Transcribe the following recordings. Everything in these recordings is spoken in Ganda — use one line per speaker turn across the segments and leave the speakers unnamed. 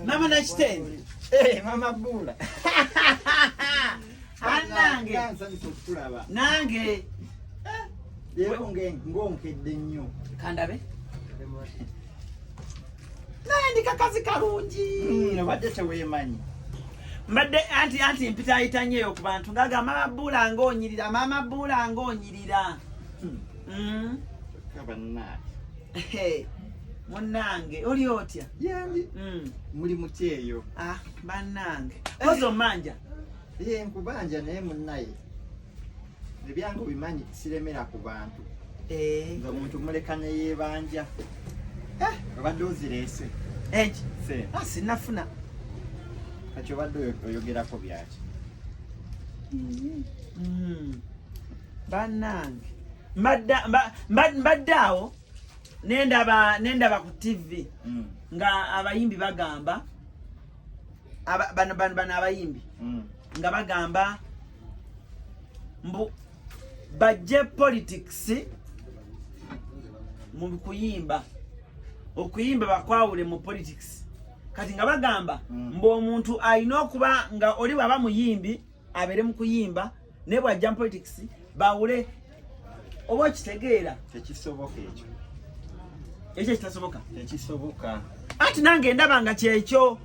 Mama na kitende. Eh, mama
bula.
Anange. Nange.
Lero nge ngonkedde nnyo. Kandabe.
Naye ndi kakazi kalungi. Mm, obadde teweemanyi.
Mbadde
anti anti mpitaayita nnyo eyo ku bantu ng'agamba mama bula ng'onyirira, mama bula ng'onyirira. Hmm. mm.
kaba naati
munange oli otya yendi
mm. muli mukyeyo ah, banange
kozi omanja ye nkubanja
naye munaye ebyange obimanyi siremera ku bantu eh. nga muntu muleka neyebanja eh. obadde ozirese eki
ah,
sinafuna kati obadde oyogerako byaki mm-hmm. mm.
banange mbadde awo nendaba nendaba ku tv mm. nga abayimbi bagamba bano bano abayimbi mm. nga bagamba mbu bajje politics mu kuyimba okuyimba bakwawule mu politics kati nga bagamba mm. mbu omuntu alina okuba nga oli waba muyimbi abere mu kuyimba ne bwa jam politics bawule oba kitegeera tekisoboka ekyo ekyo kitasoboka tekisoboka
ati nange
ndaba nga kyekyo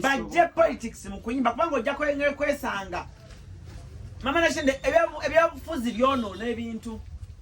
bajje politics mu kuyimba kubanga ojja kwesanga mama nashende ebyabufuzi byonoona ebintu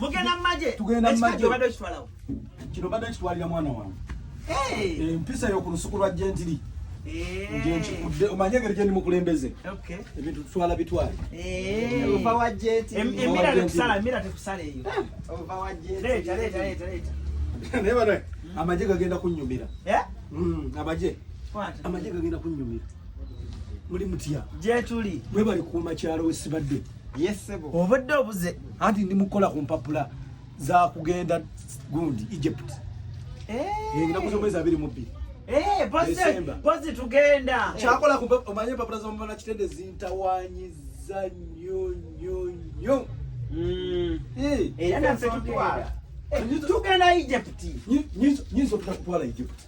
mugenda
mumaje tugenda mumaje obadde
okitwalawo
kino badde
kitwalira mwana wange empisa yoku lusuku lwa gentiri njenkikudde omanye engeri gyendi mukulembeze ebintu tutwala bitwale
naye
bana amagye gagenda kunyumira hmm, amagye amagye gagenda kunyumira muli mutya gyetuli mwebali
kuuma kyalo
wesibadde
obadde obuze
anti ndi mukola ku
mpapula za kugenda gundi egypt enaku eh. zomwezi abiri mubbiri eh, pozi
tugenda kyakola omanye
empapula zomumana kitende zintawanyiza nyo nyo nyo mm.
eh. era nafe tutwala tugenda egypt nyinza
okutwala egypt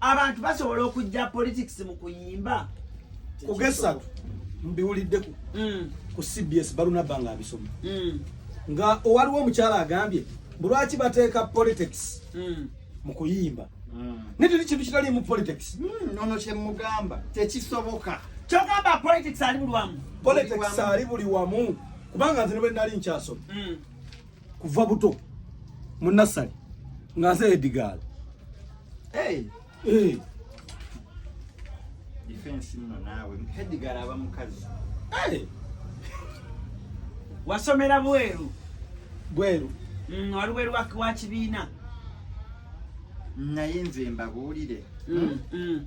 abantu basobola okujja politics mu kuyimba kugesatu
mbiwulidde ku mm. ku cbs balunabba nga abisoma mm. nga owaliwo omukyala agambye bulwaki bateeka politics mm. mu kuyimba naye tuli kintu kitali mu politics nono kyemugamba
tekisoboka kyogamba
politics ali buli wamu politics ali buli
wamu kubanga nze nebwe nali nkyasoma kuva buto mu nassali nga nze edigaala hey. hey. Eh.
defense nno naawe hedigala aba mukazi
wasomera bweru bweru mm, wali bweru wa kibiina
naye nze mbabuulire mm, mm.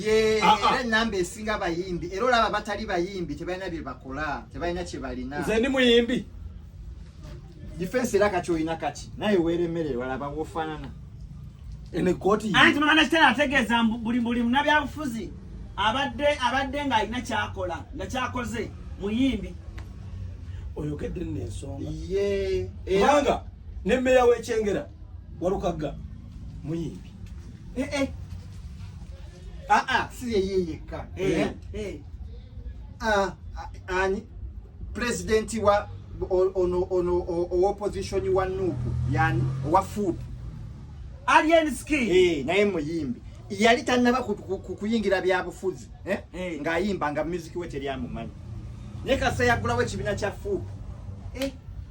ye
ah, ah. era enamba esinga abayimbi era olaba batali bayimbi tebalina byebakola tebalina kyebalina nze ndi muyimbi difensi era kati olina kaki naye weremerere walaba wofanana
anti mwana kitera
ategeeza buli buli munabyabufuzi abadde abadde ng'alina kyakola nga kyakoze muyimbi
oyogedde nno ensonga ye
eranga
ne meeya w'ekyengera walukagga muyimbi
eh, eh. Ah, ah, si yeye yekka eh, eh. ah, ah, ani pulezidenti wa ono ono owopozisioni wa nuupu yani owa fuupu
alienski eh, naye muyimbi
yali tannaba kuyingira byabufuzi eh? eh. ng'ayimba nga muziki we teryamumanyi naye kasa yagulawo ekibiina kya fuupu eh.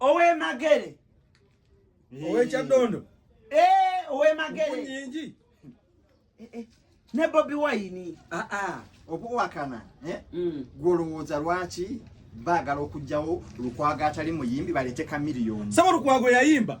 owemagere owekyaddondo
eh, owemagere
nyingi
eh,
eh. ne bobi wayini ah, ah.
okuwakana mm. gwolowooza lwaki baagala okugjawo lukwago atali muyimbi baleete kamiliyoni saba lukwago yayimba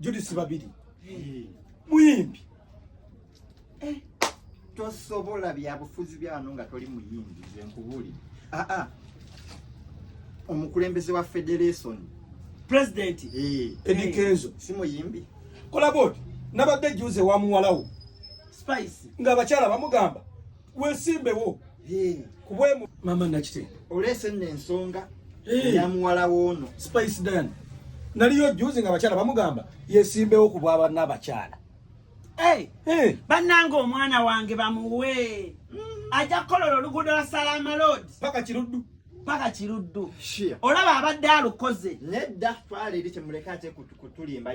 Judith Babiri muyimbi eh,
tosobola byabufuzi byano nga toli muyimbi ze nkubuli aa ah, ah. omukulembeze wa federation president
eh. Eddie
Kenzo si muyimbi
kola bodi
nabadde juze wa muwalawo spice
nga abakyala
bamugamba wesimbewo kubwemu mama nakite olese nne ensonga
ya muwala woono spice dan
naliyo juzi nga abakyala bamugamba yesimbewo ku bwaba n'abakyala
bannanga omwana wange bamuwe mm. ajja kukolola oluguudo lwa salaama lod paka kiruddu paka kiruddu olaba abadde alukoze nedda twala
eri kyemuleka ate kutulimba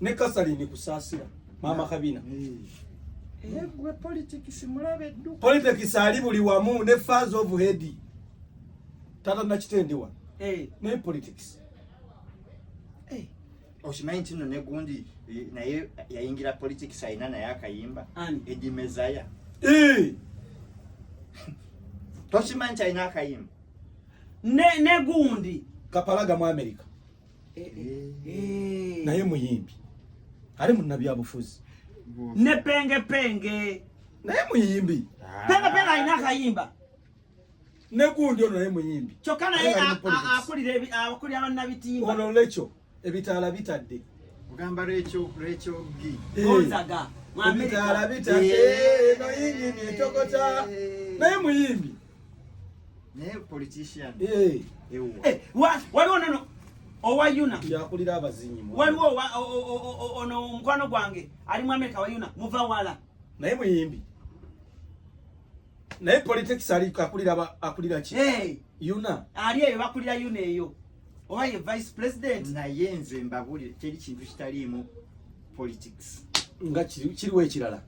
ne
kasalini kusasira mama kabina egwe
eh, politics mulabe ddu politics ali buli
wamu ne fans of head tata nakitendewa hey. Eh. ne politics hey. Eh.
okimanyi nti no negundi naye yayingira politics alina naye akayimba edi mezaya hey. tokimanyi kyalina akayimba ne
negundi kapalaga mu america
eh, eh, eh. naye muyimbi ali munnabyabufuzi ne
penge penge
naye muyimbi ah. penge penge alina
akayimba
negundi ono naye muyimbi kyokka naye
akulira bannabitiimba ono lekyo
ebitaala bitadde ogamba lwekyo
lwekyo gi onzaga
ebitaala
bitadde eno yingini etokota naye muyimbi
naye politician eh ewo eh
wa waliwo nono owa yuna yakulira abazinyi
waliwo
ono omukwano gwange ali mu amerika wa yuna muva wala naye muyimbi
naye politics ali akulira akulira ki hey. yuna ali eyo bakulira
yuna eyo owa ye vice president naye nze mbabulire
teri kintu kitaliimu politics nga
kiriwo ekirala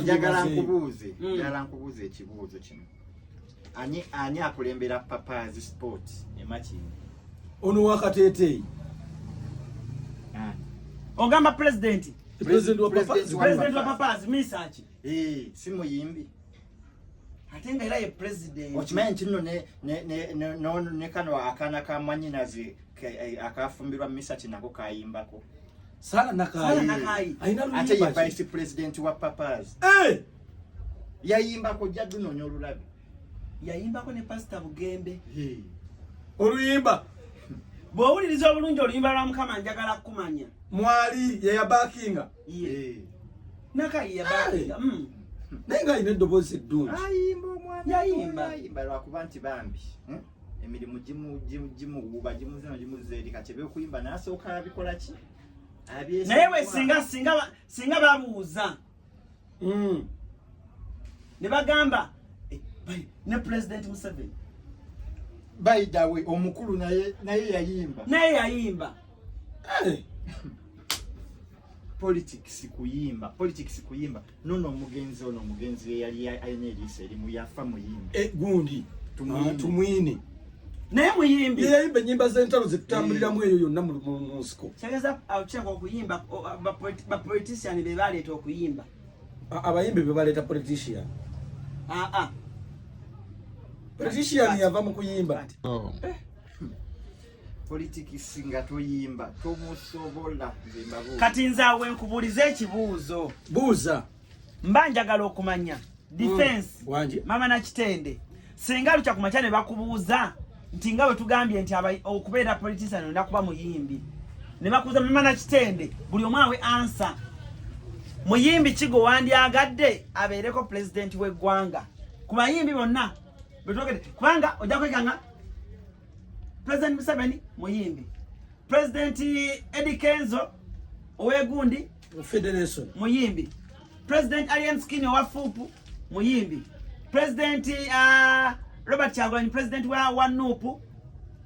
njagala nkubuuze
hmm. njagala nkubuuze ekibuuzo kino ani ani akulembera papazi sport emakini ono
wakateteeyi
ogamba pulezidenti pulezidenti wa papazi
misaki
eh, si
muyimbi ate nga era ye president okimanyi nti
nno ne kano akaana ka mwanyinazi eh, akafumbirwa misati nako kayimbako sala
nakayi ate ye vice president
wa papas eh! yayimbako jja dunonya olulabi yayimbako
ne pasita bugembe
oluyimba
bw'owuliriza obulungi oluyimba lwa mukama njagala kukumanya mwali
yeyabakinga iye
naka iye bali mm naye nga
alina eddoboozi eddungi ayimba omwana
yayimba ayimba lwakuba
nti bambi
hmm? emirimu gimuwuuba gimuzino gimuzza eri kati ebyokuyimba nasooka abikola ki naye
we singa singa singa bamuwuza mm. ne bagamba eh, ne president museveni
baidawe omukulu naye naye yayimba naye yayimba hey. Eh. politics kuyimba politics kuyimba nono omugenzi ono omugenzi yeyali alina eriiso erimu yafa muyimba eh, gundi tumwine,
ah, tumwine. naye
muyimbi yeyayimba enyimba zentalo
zitutambuliramu eyo yonna munsiko kyageza akyaka
okuyimba bapolitician bebaleeta okuyimba abayimbi
bebaleeta politician aa politician yava mu kuyimba oh. eh.
politics nga toyimba tomusobola kati
nze awe nkubuuliza ekibuuzo buuza
mba njagala
okumanya defense mm, mama na kitende singa lukya kumakya ne bakubuuza nti nga bwe tugambye nti okubeera politician olina kuba muyimbi ne bakubuuza mama na kitende buli omu awe ansa muyimbi kigo wandyagadde abeereko pulezidenti w'eggwanga ku bayimbi bonna betwogede kubanga ojja kwekanga pulezidenti museveni muyimbi pulezidenti edi kenzo owegundi federation
muyimbi
president alien skin wa fupu muyimbi president uh, robert kyagulanyi president wa, wa nupu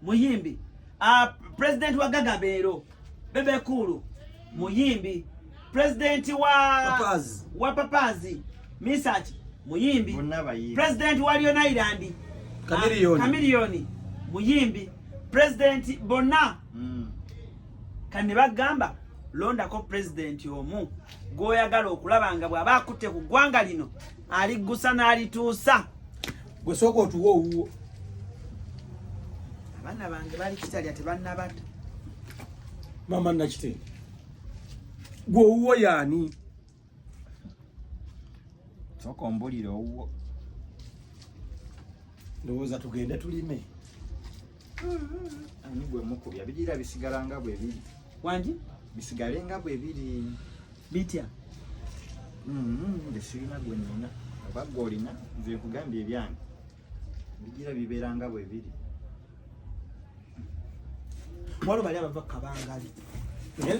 muyimbi uh, president wa gagabeero bebe kulu muyimbi president wa papazi, wa papazi. misaki muyimbi president wa lyon island kamiliyoni ah, muyimbi president bonna mm. kati ne bagamba londako pulezidenti omu gw'oyagala okulaba nga bw'aba akutte ku ggwanga lino aliggusa n'alituusa gwe sooka
otuwa owuwo
abaana bange bali kitalya tebannabata
maama nakitende gwe owuwo yaani
soka ombulire owuwo
ndowooza tugende tulime
ani gwe mukubya bigira bisigala nga bwe biri wangi
bisigale nga
bwe biri bitya mm-hmm. nge sirina gwe nina oba gwe olina nze nkugambye ebyange bigira bibeera nga bwe biri
waliwo bali abava kabangali eh?